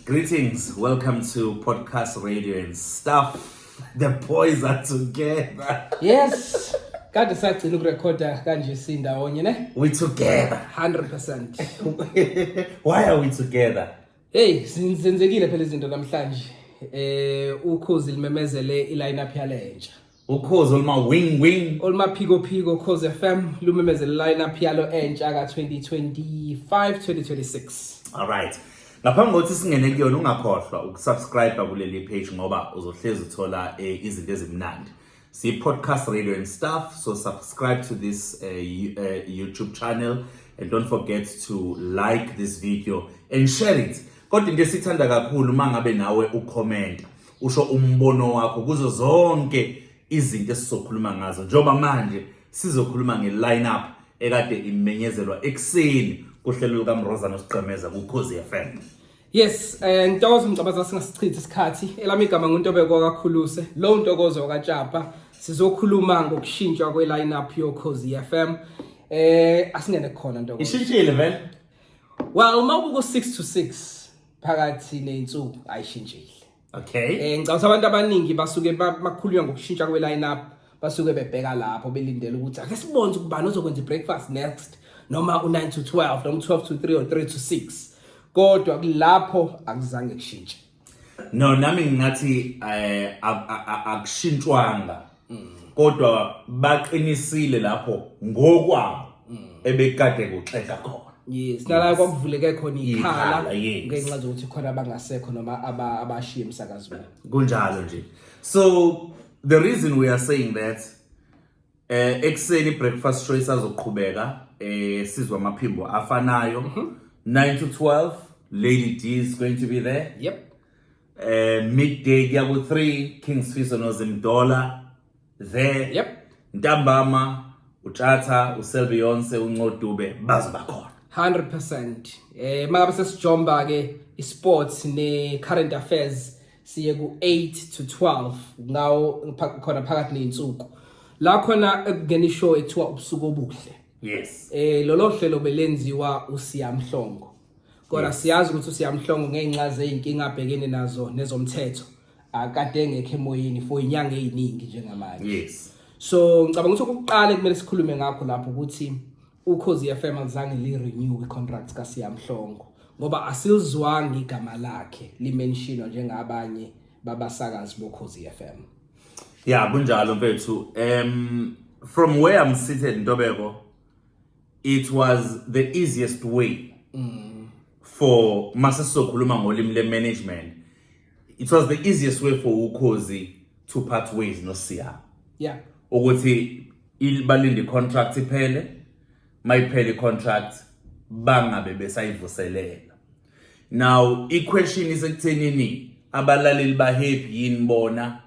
Greetings, welcome to Podcast Radio and Stuff. The boys are together. Yes. Kade sagcina ukurekhoda kanje sindawonye ne? We together. 100%. Why are we together? Hey, sin- senzekile phela izinto namhlanje. Eh ukhozi limemezele iline up yalentsha. ukhozi oluma-wing wing olumaphikophiko cause fm lumemezela i-lineup yalo entsha ka-2025 2026 alright ngaphambi kokuthi singene kuyona ungakhohlwa ukusubscribe kuleli page ngoba uzohlezi uthola eh, izinto ezimnandi si-podcast radio and stuff so subscribe to this eh, you- eh, youtube channel and don't forget to like this video and share it kodwa into esithanda kakhulu uma ngabe nawe ukhomenta usho umbono wakho kuzo zonke izinto esizokhuluma ngazo njengoba manje sizokhuluma nge-lineup ekade imenyezelwa ekuseni kuhlelo lukamrozana osigqemeza kukhozi FM Yes, eh Ntokozo Mgcabaza singasichitha isikhathi. Elami igama nguNtobeko kakhuluse. Lo Ntokozo kaJapa sizokhuluma ngokushintshwa kwe lineup yo Khosi FM. Eh asingene khona Ntokozo. Ishintshile vele. Well, uma ubuko 6 to 6 phakathi ney'nsuku ayishintshile okay um ngicabanga ukuthi abantu abaningi basuke bakhulunywa ngokushintsha kwe-line up basuke bebheka lapho belindele ukuthi ake sibone ukuthi ubani ozokwenza i-breakfast next noma u-9 to 12 noma u-12 to 3 or 3 to 6 kodwa kulapho akuzange kushintshe no nami ngingathi eh, akushintshwanga mm. kodwa baqinisile lapho ngokwabo mm. ebekade kuxexa khona yes nala kwakuvuleke khona ikhala ngenxa zokuthi khona abangasekho noma abashiye emsakazweni kunjalo nje so the reason we are saying that eh ekseni breakfast show isazoqhubeka eh sizwa amaphimbo afanayo 9 mhm. to 12 lady d is going to be there yep eh midday kuya ku 3 King Sfiso no Zimdola there yep ntambama utshatha uselbeyonce uncodube bazoba khona 100% eh makabe sesijomba ke isports ne current affairs siye ku 8 to 12 ngawo khona phakathi nezinsuku la khona ekungena ishow ekuthiwa ubusuku obuhle yes eh lolo hlelo belenziwa uSiyamhlongo kodwa siyazi ukuthi usiyamhlongo ngenxa zeyinkinga abhekene nazo nezomthetho akade engekho emoyeni for inyanga eziningi njengamanje yes so ngicabanga ukuthi ukuqala kumele sikhulume ngakho lapho ukuthi ukhozi FM alizange li renew i contract ka Siyamhlongo ngoba asilizwanga igama lakhe limentionwa njengabanye babasakazi bokhozi FM ya kunjalo mfethu um from where i'm seated ntobeko It was the easiest way mm. for masisokhuluma ngolimi le management. It was the easiest way for ukhozi to part ways no Siya. Yeah. Ukuthi balinde contract iphele mayiphele contract bangabe besayivuselela now iquestion isekuthenini abalaleli bahappy yini bona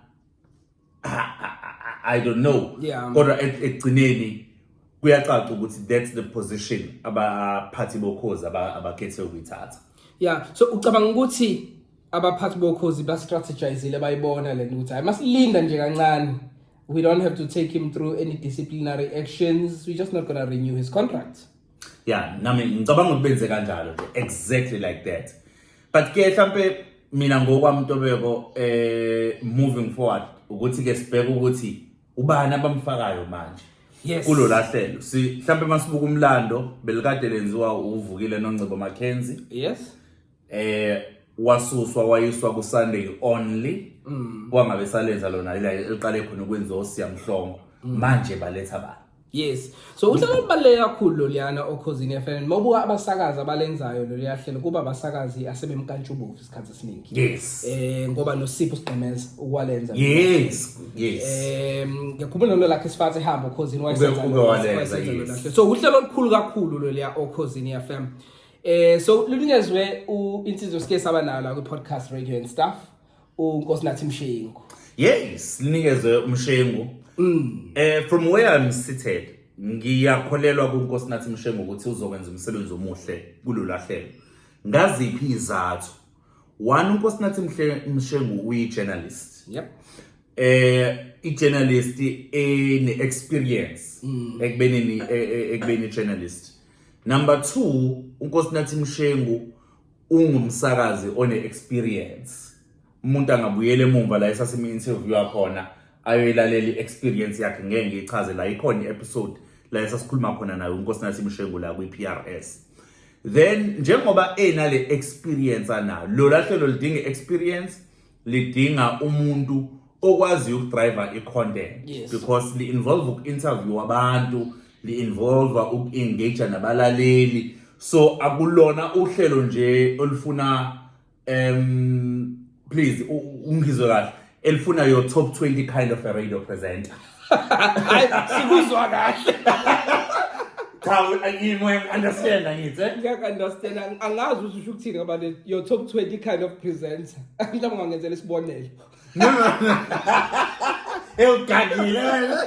I don't know yeah. kodwa ekugcineni kuyacaca ukuthi that's the position abaphathi bokhozi abakhethe ukuyithatha yeah so ucabanga ukuthi abaphathi bokhozi ba-strategizile bayibona le nto ukuthi hayi masilinda nje kancane we don't have to take him through any disciplinary actions we're just not going to renew his contract yeah nami ngicabanga ukuthi benze kanjalo nje exactly like that but ke mhlampe mina ngokwami ntobeko eh moving forward ukuthi ke sibheke ukuthi ubani abamfakayo manje yes kulolahlelo si mhlambe masibuka umlando belikade lenziwa uvukile noNgcebo Mackenzie yes eh wasuswa wayiswa ku Sunday only mm. kwangabe salenza lona ila eliqale khona ukwenziwa osiyamhlongo mm. manje baletha ba yes so uhlelo olubaluleke kakhulu loliyana okhozini FM mawubuka abasakazi abalenzayo loliya hlelo kuba abasakazi asebemkantshubovu isikhathi esiningi yes eh ngoba nosipho sigqemeza ukwalenza yes yes eh ngiyakhumbula nalo lakhe sifathe ehamba okhozini wayesenza Ube- ube walenza, yes. lolahle. so uhlelo olukhulu kakhulu loliya okhozini FM eh so lunikezwe u insizwe sike saba nayo la kwi podcast radio and stuff uNkosinathi Mshengu yes linikezwe uMshengu mm. eh from where i'm seated ngiyakholelwa kuNkosinathi Mshengu ukuthi uzokwenza umsebenzi omuhle kulolahlelo ngaziphi izathu one uNkosinathi Mshengu uyi journalist yep eh i-journalist ene-experience mm. ekubeni e, e, ekubeni i-journalist number two unkosinathi mshengu ungumsakazi one experience umuntu angabuyela emumva la esasime interview yakhona ayoyilalela i-experience yakhe ngeke ngiyichaze la ikhona i-episode la esasikhuluma khona nayo inkosi nathi imshengu la kwi-PRS then njengoba enale experience anayo lola hlelo lidinga experience lidinga umuntu okwaziyo ukudriver i-content Yes. because li-involve uku-interview abantu li-involve uku-engage nabalaleli so akulona uhlelo nje olufuna um please u- u- ungizwe kahle elifuna your top 20 kind of a radio presenter hayi sikuzwa kahle cha yini uyangi-understand angithi eh? ngiyaku-understand ang- angazi ukuthi usho ukuthini ngoba le- your top 20 kind of presenter mhlawumbe ungangenzela isibonelo ewugagile wena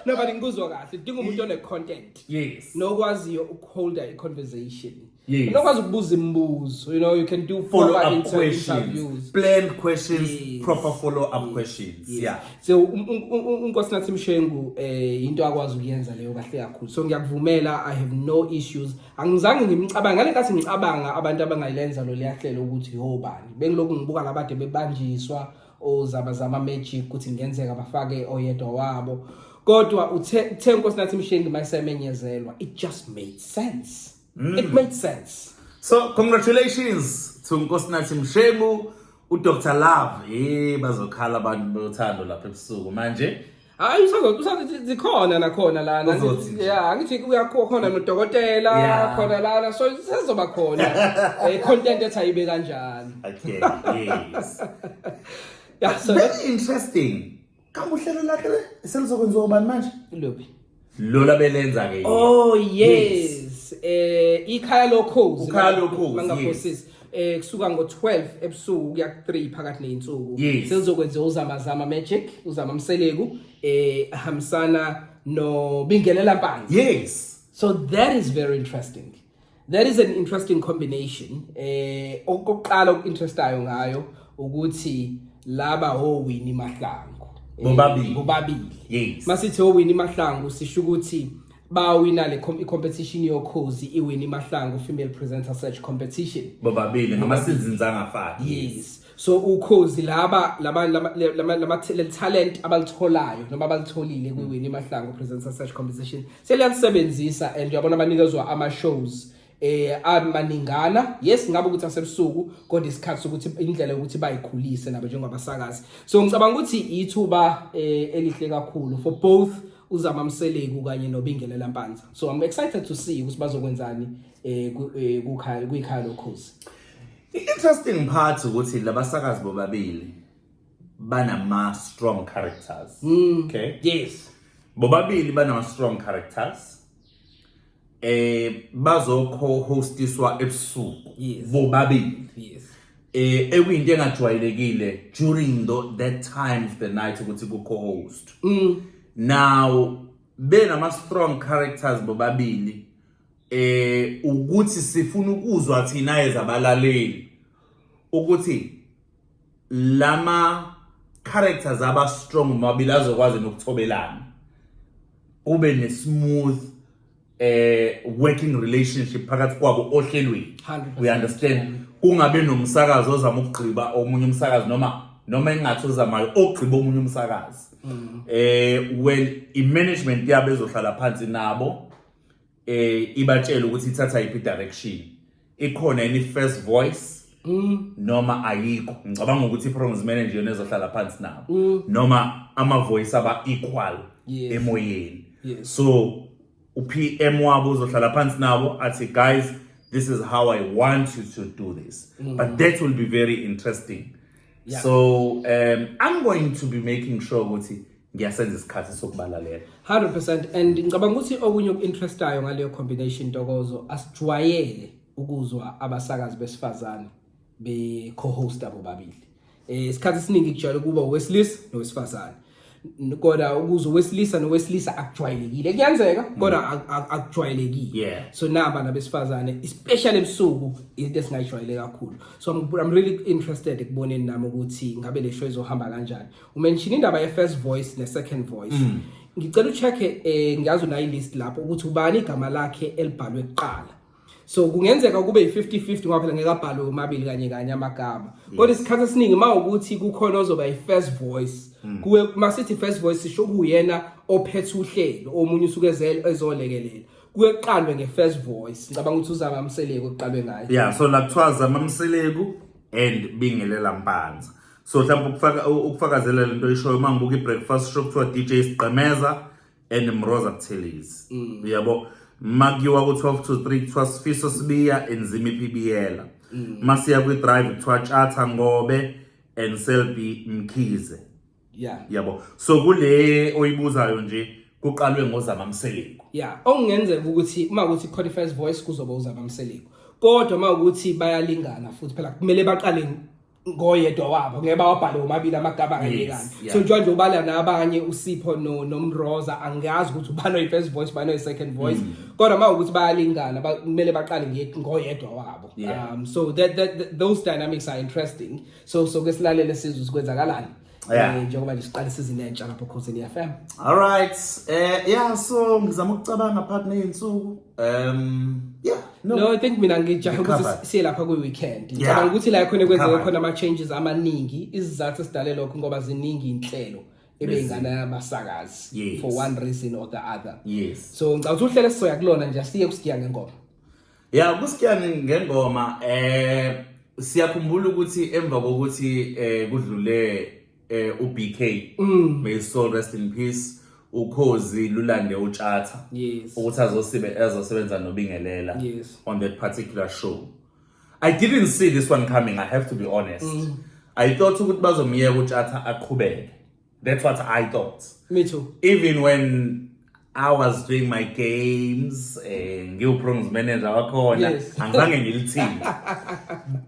no but ngikuzwa kahle udinga umuntu one-content yes nokwaziyo ukuholda i-conversation Yes. unokwazi ukubuza imibuzo you know you can do Follow proper up inter- questions, interviews planned questions, Yes. proper follow up Yes. questions. Yes. Yeah. so um, un- un- un- unkosinathi mshengu eh into akwazi ukuyenza leyo kahle kakhulu so ngiyakuvumela i have no issues angizange ngimcabanga ngale nkathi ngicabanga abantu abangayilenza lo liyahlelo ukuthi yobani bengilokhu ngibuka labade bebanjiswa ozaba zama magic ukuthi ngenzeka bafake oyedwa wabo kodwa uthe uthe unkosinathi mshengu mayisemenyezelwa it just made sense Mm. It made sense. So congratulations to Nkosinathi Mshengu, uDr Love. Eh bazokhala abantu bothando lapha ebusuku manje. Hayi usazothi usazothi zikhona nakhona lana. Uzothi nje. Yeah, angithi kuyakho khona nodokotela Yeah. khona lana so sezoba khona eh content ethi ayibe kanjani. Okay, yes. Yeah, so Very interesting. kambe uhlelo lakhe le selizokwenziwa ubani manje lophi lola belenza ke oh yes eh ikhaya lokhozi Ikhaya Lokhozi, bangaphosisi eh kusuka ngo12 ebusuku kuya ku3 phakathi nezinsuku Yes. selizokwenziwa uzamazama magic uzama mseleku eh hamsana no bingelela mpanzi yes so that is very interesting That is an interesting combination. Eh okuqala okuinterestayo ngayo ukuthi laba howini mahlangu. Eh, bobabili. Bobabili. Yes. Masithi howini mahlangu sisho ukuthi bawina le competition yokhozi iwini mahlangu female presenter search competition. Bobabili ngama seasons angafani. Yes. so ukhozi laba laba lama lama lama talent abalitholayo noma abalitholile kwi Winnie Mahlangu Presenter Search Competition seliyasebenzisa and uyabona banikezwa ama shows eh amaningana yes ngabe ukuthi asebusuku kodwa isikhathi sokuthi indlela yokuthi bayikhulise nabo njengabasakazi so ngicabanga ukuthi ithuba eh, elihle kakhulu for both uzama mseleku kanye nobingelela mpanza so i'm excited to see ukuthi bazokwenzani eh, eh kukhaya kuyikhaya lokhozi I-interesting part ukuthi labasakazi bobabili banama strong characters. Mm. Okay. Yes. Bobabili banama strong characters. Eh bazo co-hostiswa ebusuku. Yes. Bobabili. Yes. Eh ekuyinto engajwayelekile during the, that time of the night ukuthi ku co-host. Mm. Now benama strong characters bobabili eh ukuthi sifuna ukuzwa thina ezabalaleli ukuthi lama characters aba strong mabili azokwazi nokuthobelana kube ne smooth eh working relationship phakathi kwabo ohlelweni we understand kungabe nomsakazo ozama ukugqiba omunye umsakazi noma noma engathi uzamayo ogqiba omunye umsakazi mm. eh well i management yabo ezohlala phansi nabo eh ibatshela ukuthi ithatha iphi direction ikhona any first voice Mm. noma ayikho ngicabanga ukuthi i-programs manager yona ezohlala phansi nabo mm. noma ama-voice aba-equal yes. emoyeni yes. so u-pm wabo uzohlala phansi nabo athi guys this is how i want you to do this mm. but that will be very interesting yeah. so um, i'm going to be making sure ukuthi ngiyasenza isikhathi sokubalalela 100% and ngicabanga ukuthi okunye okuinterestayo ngaleyo combination ntokozo asijwayele ukuzwa abasakazi besifazane be co-host abo babili eh isikhathi esiningi kujwayele kuba owesilisa nowesifazane kodwa ukuze owesilisa nowesilisa akujwayelekile kuyenzeka kodwa mm. akujwayelekile so naba nabesifazane especially ebusuku into esingayijwayele kakhulu so I'm, I'm really interested ekuboneni nami ukuthi ngabe le show izohamba kanjani umenshini indaba ye-first voice ne-second voice mm. ngicela ucheck-e um eh, ngiyazi unayo ilist lapho ukuthi ubani igama lakhe elibhalwe kuqala so kungenzeka kube yi-50-50 ngoba phela ngeke abhalwe omabili kanye kanye amagama kodwa isikhathi esiningi uma ukuthi kukhona ozoba yi-first voice mm. kuwe uma sithi first voice sisho kuyena ophethe uhlelo omunye usuke ezolekelela kuye kuqalwe nge-first voice ngicabanga ukuthi uzama mseleku kuqalwe ngayo ya so la kuthiwa zama mseleku and bingelela mpanza so mhlawumbe ukufaka ukufakazela lento oyishoyo uma ngibuka i-breakfast show kuthiwa dj sigqemeza and mroza buthelezi mm. uyabo ma kuyiwa ku-12 to 3 kuthiwa sifiso sibiya enzima iphibiyela mm. ma siya kwi-drive kuthiwa tshatha ngobe and selby mkhize yeah yabo so kule oyibuzayo nje kuqalwe ngozama mseleku yeah okungenzeka ukuthi uma ukuthi khona first voice kuzoba uzama mseleku kodwa uma ukuthi bayalingana futhi phela kumele baqale ngoyedwa wabo ngeke bawabhale womabili amagama kanye Yes, kanye yeah. so njengoba nje ubala nabanye usipho no- nomroza angiyazi ukuthi ubani oyi-first voice ubani oyi-second voice Mm. kodwa uma ukuthi bayalingana ba- kumele baqale nge- ngoyedwa wabo Yeah. um so that, that, that, those dynamics are interesting so so ke silalele sizwe sikwenzakalani Yeah. Eh, njengoba nje siqala isizini entsha lapho Khosini FM. All right. Eh yeah so ngizama ukucabanga part nezinsuku. Um yeah. No, no I think mina ngijahe ukuthi siye lapha kwi weekend. Ngicabanga ukuthi la khona kwenzeka khona ama changes amaningi. Izizathu esidale lokho ngoba ziningi inhlelo. ebeyingane yabasakazi yes. for one reason or the other yes so ngicabanga ukuthi uhlele sisoya kulona nje siye kusigiya ngengoma Ya kuSkiyane ngengoma eh siyakhumbula ukuthi emva kokuthi eh kudlule eh uBK Mm. may his soul rest in peace ukhozi lulande utshatha Yes. ukuthi azosibe azosebenza nobingelela Yes. on that particular show i didn't see this one coming i have to be honest Mm. i thought ukuthi bazomyeka utshatha aqhubeke That's what I thought. Me too. Even when I was doing my games, eh, ngiwu-prongs manager wakhona, Yes. angizange ngilithinte.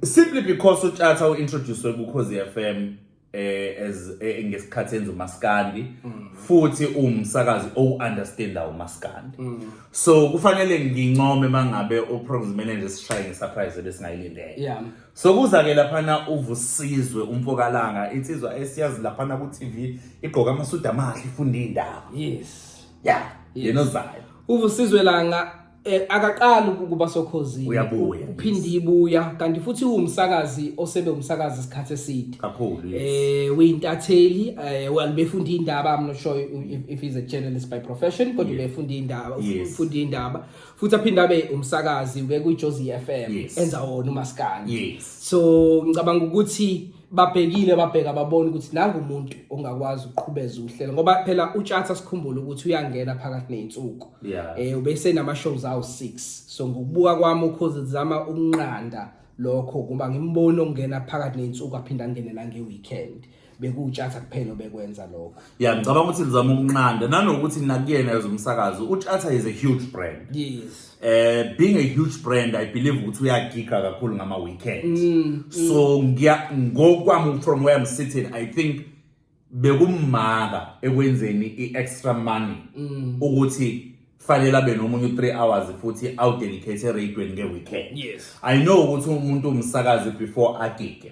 Simply because uTshatha u-introduced kuKhozi FM eh, as eh, ngesikhathi enza umaskandi futhi uwumsakazi owu-understanda umaskandi so kufanele ngincome mangabe u-prongs manager sishaye nge-surprise ebesingayilindele Yeah. Sokuza ke laphana uvusizwe umfokalanga insizwa esiyazi laphana ku TV igqoka amasudu amahle ifunda indaba. Yes. Yeah, yena ozayo. Uvusizwe langa eh, akaqali ukuba sokhozini. Uyabuya. Uphinde ibuya kanti futhi uwumsakazi osebe umsakazi isikhathi eside. Kakhulu. yes. Eh uyintatheli eh well befunda indaba I'm not sure if, if he's a journalist by profession kodwa Yeah. befunda indaba Yes. ufunda indaba futhi aphinde abe umsakazi bekwiJozi FM Yes. enza wona umaskandi Yes. so ngicabanga ukuthi babhekile babheka babona ukuthi nangu umuntu ongakwazi ukuqhubeza uhlelo ngoba phela utshatha sikhumbule ukuthi uyangena phakathi neyinsuku Yeah. eh ubese nama shows awu 6 so ngokubuka kwami ukhozi zama ukunqanda lokho kuba ngimbona ongena phakathi neyinsuku aphinda angene nange weekend bekuwutshatha kuphela obekwenza lokho ya ngicabanga ukuthi lizama ukunqanda nanokuthi nakuyena yozomsakazo utshatha is a huge brand yes eh being a huge brand i believe ukuthi uyagiga kakhulu ngama weekend mm, mm. so ngiya ngokwami from where i'm sitting i think bekumaka ekwenzeni i-extra money mm. ukuthi fanele abe nomunye u-three hours futhi awudedicate eradweni nge-weekend yes i know ukuthi umuntu umsakazi before agige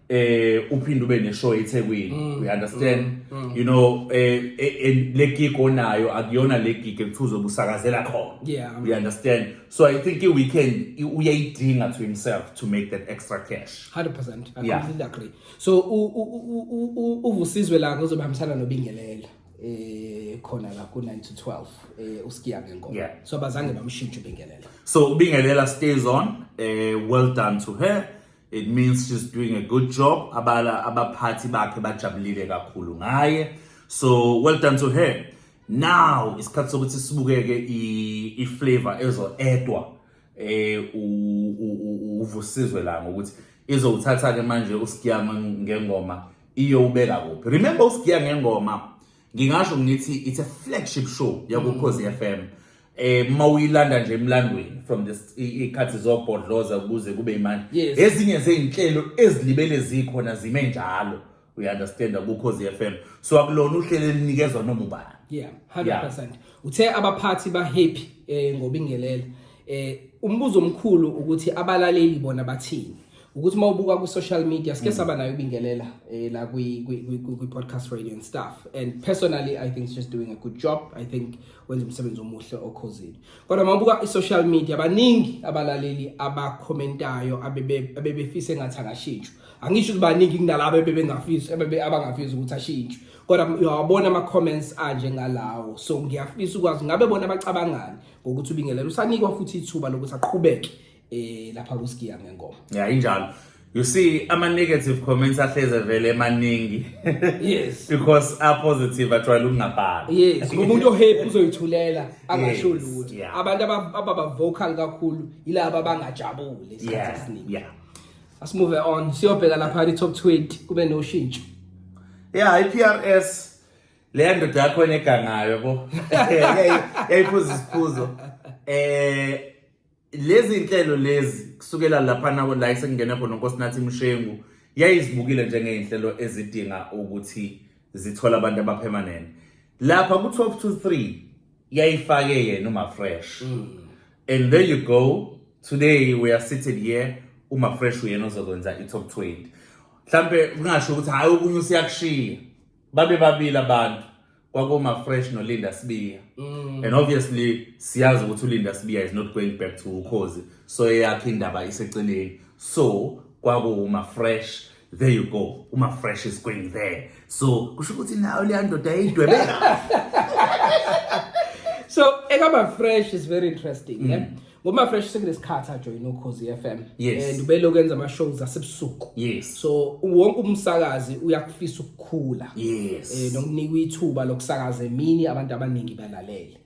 eh uphinde ube neshow eThekwini mm, you understand mm, mm. you know eh, eh, eh le gig onayo akuyona le gig ekuthuzo busakazela khona yeah you understand so i think i weekend uyayidinga to himself to make that extra cash 100% i yeah. completely agree so uvusizwe la ngizobambisana nobingelela eh khona la ku 9 to 12 eh usikiya ngenkomo yeah. so bazange bamshintshe ubingelela so ubingelela stays on eh well done to her It means she's doing a good job. Abala abaphathi bakhe bajabulile kakhulu ngaye. So well done to her. Now isikhathi sokuthi sibukeke i flavor ezo edwa eh uvusizwe la ngokuthi izowuthatha ke manje uSkiyama ngengoma iyowubeka kuphi. Remember uSkiya ngengoma ngingasho ngithi it's a flagship show yakukhozi FM. eh uma uyilanda nje emlandweni from this ikhathi zobhodloza ukuze kube imanje Yes. ezinye zezinhlelo ezilibele zikhona zime njalo we understand ukhozi FM so akulona uhlelo elinikezwa noma ubani yeah 100% uthe abaphathi ba happy eh ngobingelela eh umbuzo omkhulu ukuthi abalaleli bona bathini ukuthi mawubuka ku social media sike saba nayo ubingelela eh la kwi kwi kwi- kwi podcast radio and stuff and personally i think she's doing a good job i think wenza umsebenzi omuhle okhozini kodwa mabuka i-social media baningi abalaleli abakhomentayo abebefise ngathi akashintshwe angisho ukuthi baningi kunalabo ebebengafisi abangafisi ukuthi ashintshwe kodwa uyawabona ama-comments anje ngalawo so ngiyafisa ukwazi ngabe bona bacabangani ngokuthi ubingelela usanikwa futhi ithuba lokuthi aqhubeke eh lapha kusikiya ngengoma ya injalo you see ama negative comments ahleze vele emaningi yes because a positive ajwayele ukungabhala yes umuntu ohappy uzoyithulela angasho lutho abantu ababa vocal kakhulu yilabo abangajabule isikhathi esiningi yeah let's move on siyobheka lapha i top 20 kube no shintsho yeah i PRS leya ndoda yakho enegangayo bo yayiphuza isiphuzo eh lezi nhlelo lezi kusukela laphana la esengingene khona unkosinathi mshengu yayizibukile njengey'nhlelo ezidinga ukuthi zithole abantu abaphemanene lapha ku-12 to 3 yayifake yena umafresh mm. and there you go today we are seated here umafresh uyena ozokwenza i-top 20 mhlampe kungasho ukuthi hhayi okunye usiyakushiya babe babili abantu kwakoma fresh no Linda Sibiya mm. and obviously siyazi ukuthi uLinda Sibiya is not going back to ukhozi so eyakhe indaba iseceleni so kwakuma fresh there you go uma fresh is going there so kusho ukuthi nayo leya ndoda yayidwebe so ekaba fresh is very interesting mm. yeah? Ngoma fresh sekunesikhathi ajoyina ukhozi FM yes. and ubelo kwenza ama shows asebusuku. Yes. So wonke umsakazi uyakufisa ukukhula. Yes. Eh nokunika ithuba lokusakaza emini abantu abaningi balalele.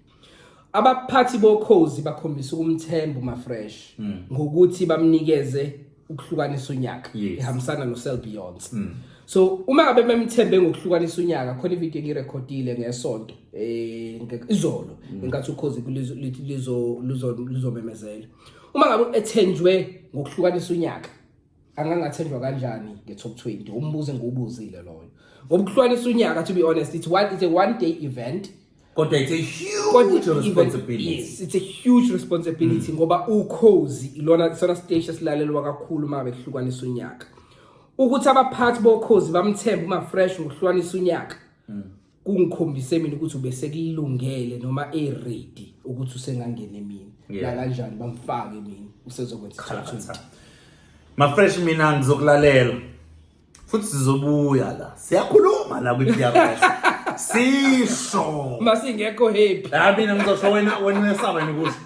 Abaphathi bokhozi bakhombisa ukumthemba uma fresh mm. ngokuthi bamnikeze ukuhlukanisa unyaka Yes. ihambisana noSel Beyonce Mm. so uma ngabe memthembe ngokuhlukanisa unyaka khona ivideo engirekhodile ngesonto eh nge- izolo Mm. ngenkathi ukhozi kulizo- lithi lizo- luzo- luzomemezela uma ngabe ethenjwe ngokuhlukanisa unyaka angangathenjwa kanjani nge-top 20 umbuzo engiwubuzile loyo ngoba ukuhlukanisa unyaka to be honest it's one, it's a one day event kodwa it's a huge Kodwa even- responsibility Mm. yes, it's a huge responsibility ngoba ukhozi ilona isona stage esilalelwa kakhulu uma behlukanisa unyaka ukuthi abaphathi bokhozi bamthembe uma fresh ngokuhlukanisa unyaka Mm. kungikhombise mina ukuthi ubesekulungele noma eready ukuthi usengangena emini Yeah. nakanjani bamfake emini usezokwenza Cha, cha. isithuthi mafresh mina ngizokulalela futhi sizobuya la siyakhuluma la kwi-prs sisho masingekho happy la mina ngizosho wena wena uyesaba yini ukuthi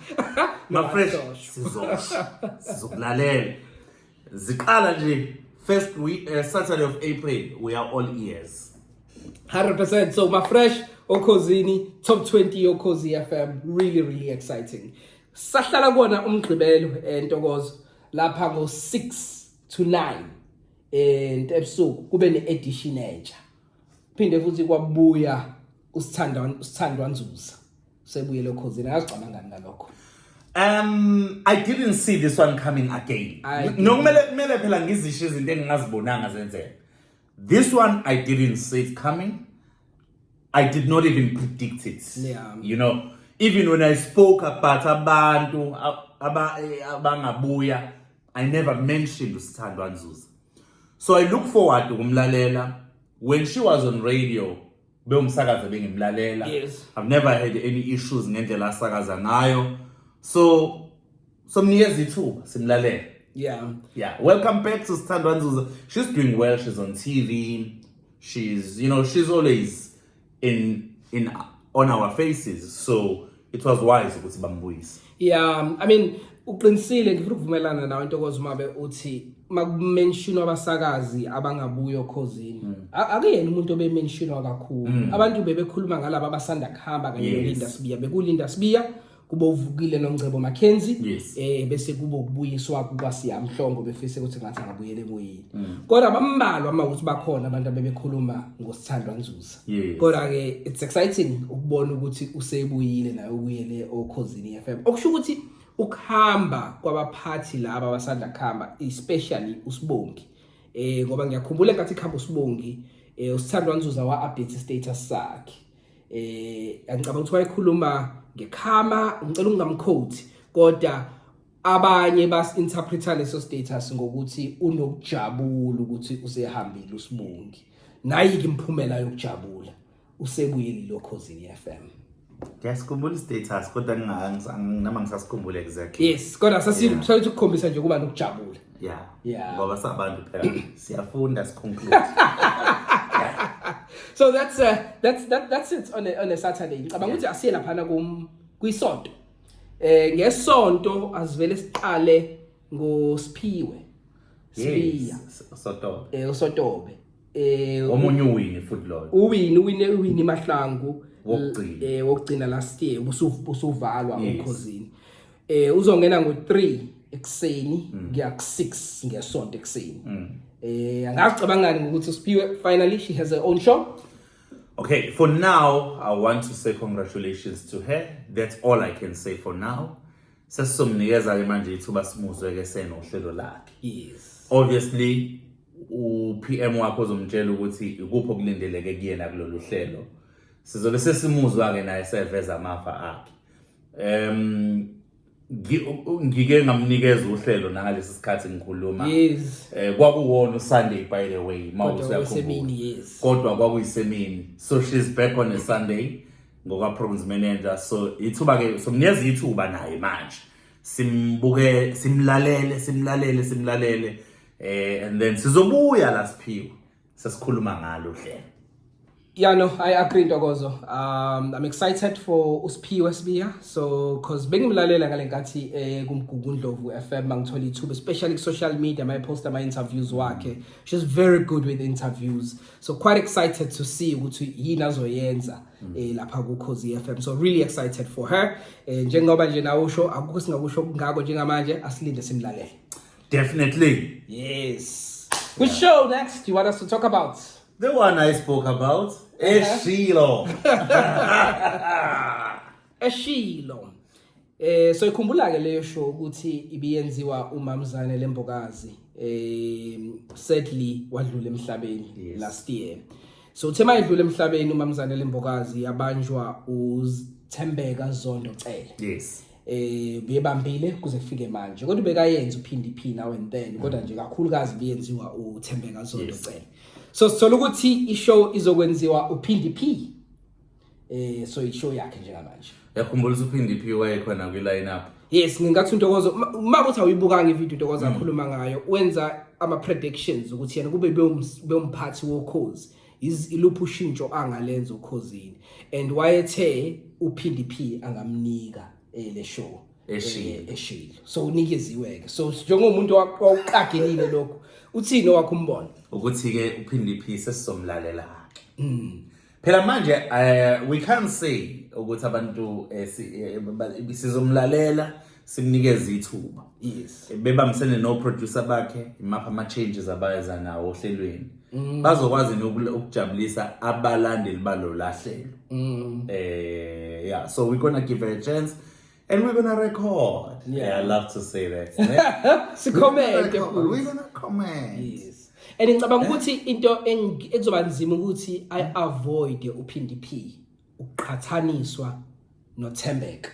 mafresh sizosho sizokulalela ziqala nje first week, uh, saturday of april we are all ears 100% so mafresh okhozini top 20 yokhozi fm really really exciting sahlala kona umgqibelo entokozo lapha ngo-6 to 9 eh ntebusuku kube needition entsha phinde futhi kwabuya usithandwa usithandwa nzuza sebuye lokhozini akagcama ngani ngalokho Um I didn't see this one coming again. I didn't. Nokumele kumele phela ngizisho izinto engingazibonanga zenzeka. This one I didn't see it coming. I did not even predict it. Yeah. You know, even when I spoke about abantu ab- aba- eh, abangabuya I never mentioned uSithandwa Nzuza. So I look forward ukumlalela when she was on radio bewumsakazi bengimlalela. Yes. I've never had any issues ngendlela asakaza ngayo. So somnikeza ithuba simlalele. Yeah. Yeah. Welcome back to Sithandwa Nzuza. She's doing well. She's on TV. She's, you know, she's always in in on our faces so it was wise ukuthi bambuyise yeah i mean uqinisile ngifuna ukuvumelana nawe intokozo umabe uthi makumentionwa abasakazi abangabuyo khozini mm. akuyena umuntu obementionwa kakhulu mm. abantu bebekhuluma ngalabo abasanda kuhamba kanye yes. nolinda sibiya bekulinda sibiya kube uvukile noNgcebo Mackenzie yes. eh bese kube ukubuyiswa kukaSiya Mhlongo befise ukuthi ngathi angabuyele kuyini mm. kodwa bambalwa uma ukuthi bakhona abantu abebekhuluma ngosithandwa Nzuza yes. kodwa ke it's exciting ukubona ukuthi usebuyile naye ubuyele okhozini FM okusho ukuthi ukuhamba kwabaphathi laba abasanda kuhamba especially usibongi eh ngoba ngiyakhumbula ngathi khamba usibongi eh usithandwa Nzuza wa update status sakhe eh angicabanga ukuthi wayekhuluma ngekhama ngicela ungamquote kodwa abanye bas interpreter leso status ngokuthi unokujabula ukuthi usehambile usibongi nayi kimphumela yokujabula usebuyile lokhozini FM Ngiyasikhumbula status kodwa ngingakangisanga nama ngisasikhumbule exactly. Yes, kodwa sasifuna ukukhombisa nje kuba nokujabula. yeah yeah ngoba sabantu phela siyafunda siconclude so that's uh, that's that, that's it on a, on a saturday ngicabanga ukuthi yeah. asiye laphana kum kwisonto eh ngesonto asivele siqale ngosiphiwe sibiya sotobe eh usotobe eh omunye uwini futhi lo uwini uwine uwini mahlangu wokugcina eh wokugcina last year usuvalwa ukhozini eh uzongena ngo 3 ekseni mm. ngiya ku 6 ngesonto ekseni mm. eh angacabangani ukuthi siphiwe finally she has her own show okay for now i want to say congratulations to her that's all i can say for now sesizomnikeza ke manje ithuba simuzwe ke sena uhlelo lakhe yes obviously u PM wakho uzomtshela ukuthi ikuphi okulindeleke kuyena kulolu hlelo sizobe sesimuzwa ke naye seveza amafa akhe um ngike ngamnikeza uhlelo nangalesi sikhathi ngikhuluma yes. um eh, kwakuwona usunday by the way yes. kodwa kwakuyisemini so she's back on a sunday ngoka-programs manager so ithuba-ke somnikeza ithuba naye manje simbuke simlalele simlalele simlalele um and then sizobuya la siphiwe sesikhuluma ngalo hlelo Yeah, no, I agree Ntokozo. Um I'm excited for uSphiwe Sibiya. So cause bengimlalela ngalenkathi eh kumgugu Ndlovu FM mangithola ithuba especially ku social media my post my interviews wakhe. She's very good with interviews. So quite excited to see ukuthi yini azoyenza mm. eh lapha ku Khosi FM. So really excited for her. Eh njengoba nje nawo usho akukho singakusho kungako njengamanje asilinde simlalele. Definitely. Yes. Good yeah. show next. You want us to talk about? The one I spoke about. Uh-huh. Eshilo. Eshilo. Eh so ikhumbula ke leyo show ukuthi ibiyenziwa umamzane lembokazi eh sadly wadlula emhlabeni yes. last year. So uthe mayedlula emhlabeni umamzane lembokazi yabanjwa uthembeka Zondo Cele. Yes. eh bebambile kuze kufike manje kodwa bekayenza uphindi phi now and then kodwa nje kakhulukazi biyenziwa uThembeka Zondo cela so sithola ukuthi ishow izokwenziwa uphindi phi eh so ishow yakhe njengamanje yakhumbula ukuthi uphindi phi wayekhona kwi line up yes ngingathi untokozo uma kuthi awuyibukanga ivideo untokozo mm. akhuluma ngayo wenza ama predictions ukuthi yena kube bewumphathi wokhozi iluphi ushintsho angalenza ukhozini and wayethe uphindi phi angamnika eh, le show eshilo eh, eshilo so unikeziwe ke so njengomuntu waqagelile lokho uthini owakho umbono ukuthi ke uphindi phi sesizomlalela ke mm. phela manje eh, we can't say ukuthi abantu eh, sizomlalela simnikeza ithuba yes bebambisene no producer bakhe imapha ama changes abayeza nawo ohlelweni mm. bazokwazi nokujabulisa abalandeli balo lahlelo mm. eh yeah so we gonna give her a chance and we're gonna record yeah, yeah i love to say that si comment we're gonna comment yes and ngicabanga eh? ukuthi into ekuzoba nzima ukuthi i avoid uphindi p uqhathaniswa nothembeka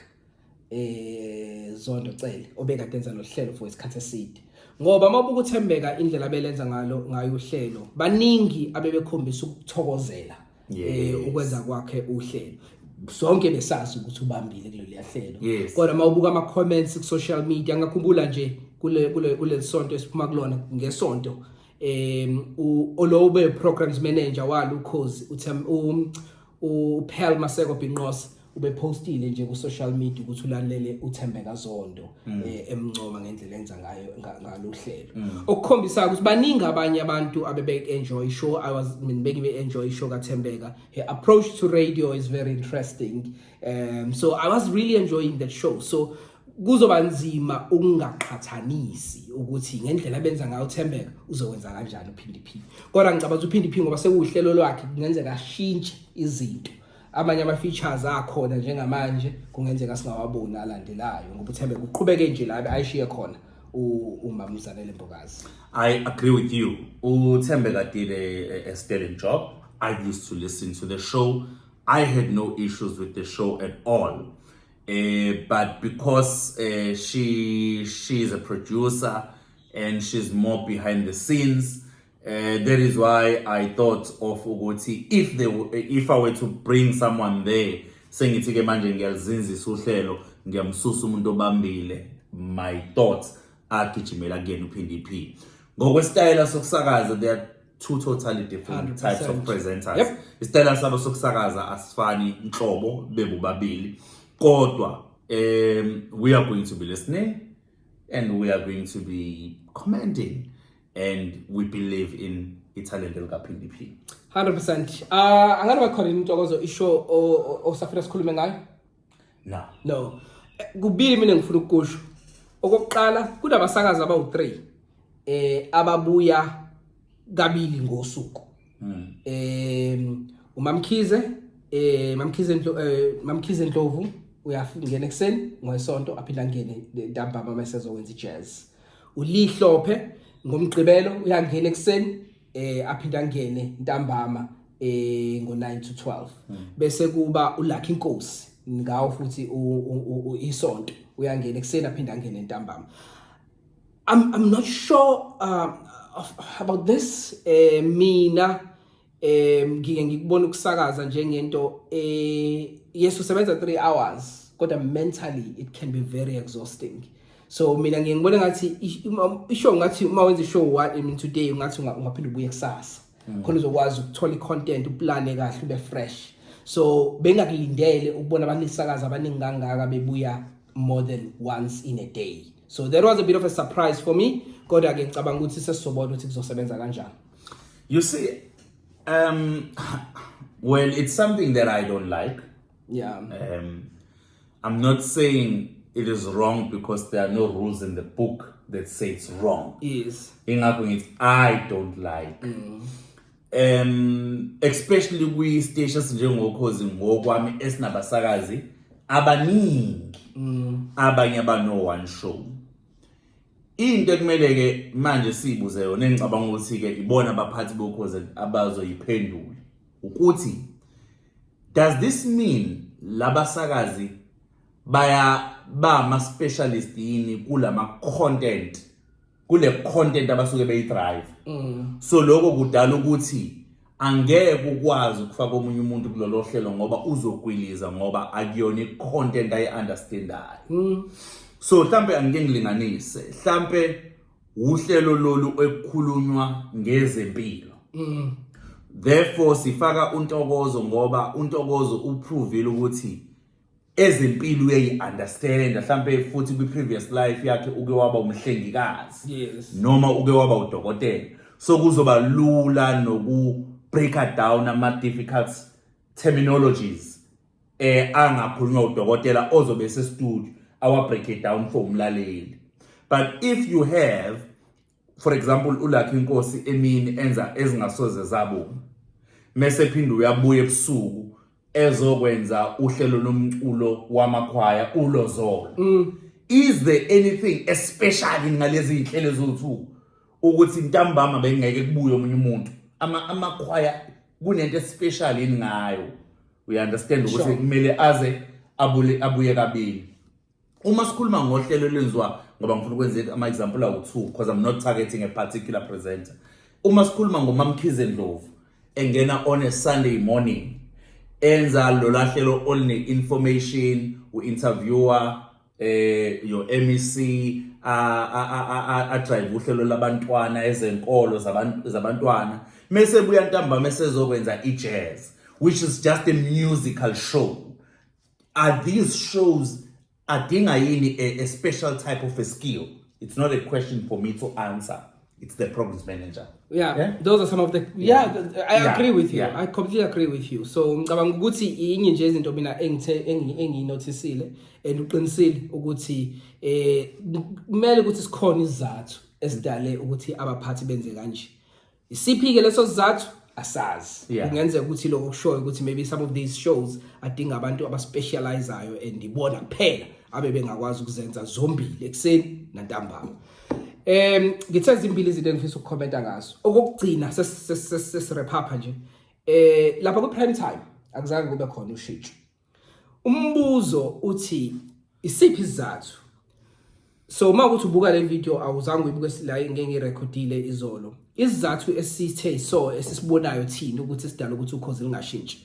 eh Zondo Cele obekade enza lo hlelo for isikhathi eside ngoba uma ubukuthembeka indlela abelenza ngalo ngayo uhlelo baningi abebekhombisa ukuthokozela eh ukwenza kwakhe uhlelo sonke besazi ukuthi ubambile kuleli yahlelo kodwa uma ubuka ama comments ku social media ngakhumbula nje kule kule kulesonto esiphuma kulona ngesonto em um, ulobe programs manager walo ukhozi uthe um, uPearl Maseko Binqose ubepostile nje ku social media ukuthi ulalele uThembeka Zondo mm. eh, emncoma ngendlela enza ngayo ngaluhlelo mm. okukhombisa ukuthi baningi abanye abantu abebe enjoy show i was mina bengibe enjoy show kaThembeka her approach to radio is very interesting um so i was really enjoying that show so kuzoba nzima ukungaqhathanisi ukuthi ngendlela abenza ngayo uThembeka uzokwenza kanjani uPhindi Phi kodwa ngicabanga ukuthi uPhindi Phi ngoba sekuwuhlelo lwakhe kungenzeka ashintshe izinto amanye ama-features akhona njengamanje kungenzeka singawaboni alandelayo ngoba uThembeka uqhubeke nje la ayishiye khona umamuzanele mbokazi i agree with you uthembeka dile eh, a sterling job i used to listen to the show i had no issues with the show at all Uh, but because uh, she she is a producer and she's more behind the scenes, uh, that is why I thought of ukuthi if they if I were to bring someone there sengithi ke manje ngiyalizinzisa uhlelo ngiyamsusa umuntu obambile my thoughts agijimela kuyena uPhindiphi ngokwesitayela sokusakaza there two totally different 100%. types of presenters Yep. isitayela sabo sokusakaza asifani nhlobo bebobabili kodwa um we are going to be listening and we are going to be commenting and we believe in ithalente likaphindiphi 100% uh angani bakhona intokozo isho o- o- osafuna sikhulume ngayo no no Eh, kubili mina ngifuna ukukusho okokuqala kunabasakazi abawu-3 eh ababuya kabili ngosuku um umamkhize eh mamkhize Ndlo- eh, mamkhize ndlovu uyangena ekuseni ngoyisonto aphinde angene ntambama uma esezokwenza ijazz ulihlophe ngomgqibelo uyangena ekuseni eh aphinde angene ntambama eh ngo 9 to 12 hmm. bese kuba uLucky Nkosi ngawo futhi isonto uyangena ekuseni aphinde angene ntambama I'm I'm not sure uh, of, about this eh mina eh ngike ngikubona ukusakaza njengento eh yes usebenza 3 hours kodwa mentally it can be very exhausting so mina ngiye ngibone ngathi ishow ngathi uma wenza ishow one I mean today ngathi ungaphinde ubuye kusasa mm. khona uzokwazi ukuthola i-content uplane kahle ube fresh so bengakulindele ukubona abantu isakaza abaningi kangaka bebuya more than once in a day so that was a bit of a surprise for me kodwa ke ngicabanga ukuthi sesizobona ukuthi kuzosebenza kanjani you see um well it's something that i don't like yeah um I'm not saying it is wrong because there are no rules in the book that say it's wrong. Yes. Ingakho ngithi I don't like. Mm. Um especially kwi station sinjengokhozi ngokwami esinabasakazi abaningi. Mm. Abanye abano one show. Into ekumele ke manje sibuze yona engicabanga ukuthi ke ibona abaphathi bokhoze abazoyiphendula. ukuthi does this mean labasakazi baya ba ama specialist yini kulama content kule content abasuke beyi drive mm. so lokho kudala ukuthi angeke ukwazi ukufaka omunye umuntu kulolo hlelo ngoba uzogwiliza ngoba akuyona i-content ayi-understandayo mm. so mhlampe angike ngilinganise mhlampe Uhlelo lolu ekukhulunywa ngezempilo. Mm. Therefore sifaka uNtokozo ngoba uNtokozo uprovile ukuthi ezempilo uyayi-understand mhlampe futhi kwi-previous life yakhe uke waba umhlengikazi yes. noma uke waba udokotela so kuzoba lula noku-breaker down ama-difficult terminologies eh angakhulunywa udokotela ozobe sestudio awa break it down for umlaleli but if you have for example ulakhe inkosi emini enza ezingasoze zabonga mese phinde uyabuya ebusuku ezokwenza uhlelo lomculo wamakhwaya ulozolo mm. is there anything especially ngalezi inhlelo zothu ukuthi ntambama bengeke kubuye omunye umuntu ama amakhwaya kunento especial yini ngayo we understand ukuthi Sure. kumele aze abule abuye kabili uma sikhuluma ngohlelo lwenziwa ngoba ngifuna ukwenza ama example awu two because i'm not targeting a particular presenter uma sikhuluma ngomamkhize ndlovu engena on a sunday morning enza lolahlelo oline information u interviewer eh yo MEC a a a a drive uhlelo labantwana ezenkolo zabantu zabantwana mese buya ntamba mesezokwenza ijazz which is just a musical show are these shows adinga yini a, a special type of a skill it's not a question for me to answer it's the programs manager yeah, yeah? those are some of the yeah, yeah i yeah. agree with you yeah. i completely agree with you so ngicabanga ukuthi inye nje izinto mina engithe engiyinotisile and uqinisile ukuthi eh kumele ukuthi sikhona izathu esidale ukuthi abaphathi benze kanje isiphi ke leso sizathu asazi kungenzeka ukuthi lokho kushoyo ukuthi maybe some of these shows adinga abantu abaspecializayo and ibona kuphela abe bengakwazi ukuzenza zombili ekuseni nantambama Em ngithe zimbili izinto engifisa ukukhomenta ngazo. Okugcina sesirephapha nje. Eh lapha ku prime time akuzange kube khona ushintsho. Umbuzo uthi isiphi isizathu? So uma ukuthi ubuka le video awuzange uyibuke la ngeke ngirecordile izolo. Isizathu esithe so esisibonayo thina ukuthi sidala ukuthi ukhozi lingashintshi.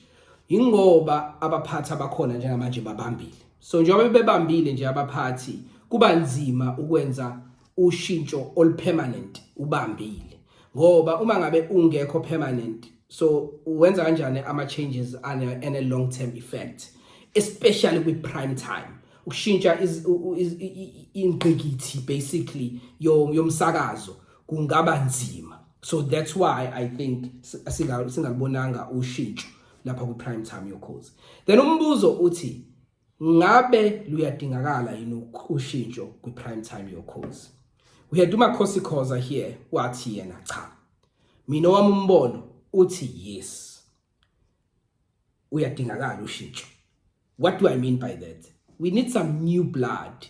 Ingoba abaphathi abakhona njengamanje babambile. so njengoba bebambile nje abaphathi kuba nzima ukwenza ushintsho olupermanent ubambile ngoba uma ngabe ungekho permanent so wenza kanjani ama changes and a long term effect especially kwi prime time ukushintsha ingqikithi basically yomsakazo kungaba nzima so that's why i think singalibonanga ushintsho lapha kwi-prime time yokhozi then umbuzo uthi ngabe luyadingakala yini ushintsho kwi-prime time yokhozi we had umakhosi khoza here wathi yena cha mina wami umbono uthi yes uyadingakala ushintsho What do I mean by that? We need some new blood.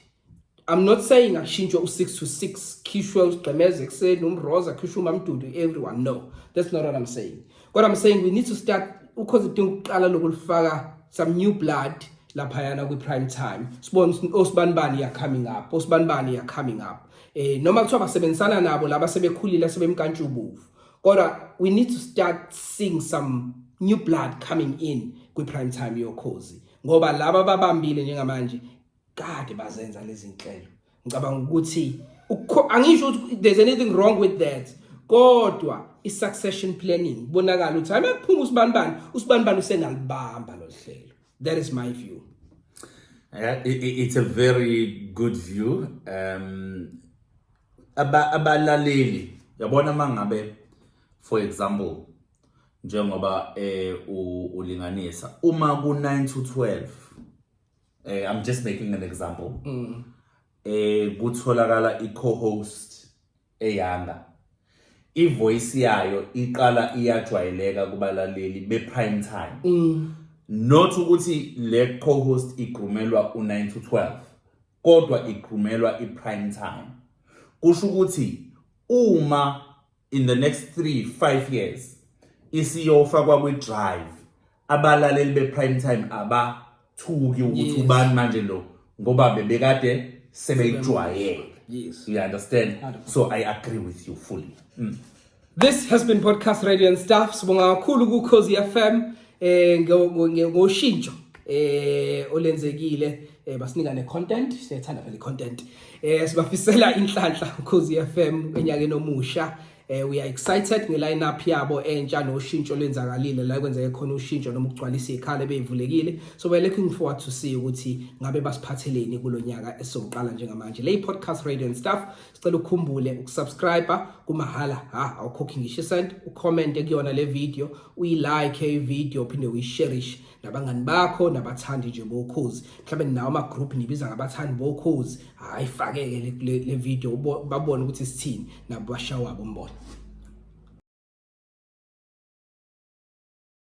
I'm not saying akushintshwe u-6 to 6 khishwe usigqemeze ekuseni umroza khishwe umamdudu everyone no that's not what I'm saying kodwa I'm saying we need to start ukhoze idinga ukuqala lokulifaka some new blood laphayana kwi-prime time sibone osibanibani ya coming up osibanibani ya coming up eh noma kuthiwa basebenzisana nabo laba sebekhulile sebemkantshubovu kodwa we need to start seeing some new blood coming in kwi prime time yokhozi ngoba laba babambile njengamanje kade bazenza lezi nhlelo ngicabanga ukuthi angisho ukuthi there's anything wrong with that kodwa i-succession planning kubonakala ukuthi hayi makuphuma usibanibani usibanibani usengalibamba lo hlelo that is my view uh, it, it's a very good view um abalaleli yabona uma ngabe for example njengoba eh ulinganisa uma ku 9 to 12 eh i'm just making an example mm. eh kutholakala i co-host eyanga ivoice yayo iqala iyajwayeleka kubalaleli be prime time mm. not ukuthi le co-host igrumelwa u 9 to 12 kodwa igqumelwa i-prime time kusho ukuthi uma in the next 3 5 years isiyofa kwakwi drive abalaleli be prime time abathuki ukuthi ubani manje lo ngoba bebekade sebeyijwayele yes you understand so i agree with you fully mm. This has been Podcast Radio and Staff. Sibonga kakhulu ku Cause FM eh ngoshintsho eh olenzekile eh basinika ne content siyethanda phela content eh sibafisela inhlanhla Cause FM enyakeni omusha eh we are excited nge line up yabo entsha noshintsho lenzakalile la kwenzeke khona ushintsho noma ukugcwalisa ikhala ebeyivulekile so we're looking forward to see ukuthi ngabe basiphatheleni kulonyaka esoqala njengamanje le podcast radio and stuff Sicela ukhumbule ukusubscribe kumahhala ha awukhokhi ngisho isent ucomment kuyona le video uyilike ivideo uphinde uyisherishe nabangani bakho nabathandi nje bokhozi mhlawumbe ninawo ama group nibiza ngabathandi bokhozi hayi fakeke le video babone ukuthi sithini nabo bashawabo umbona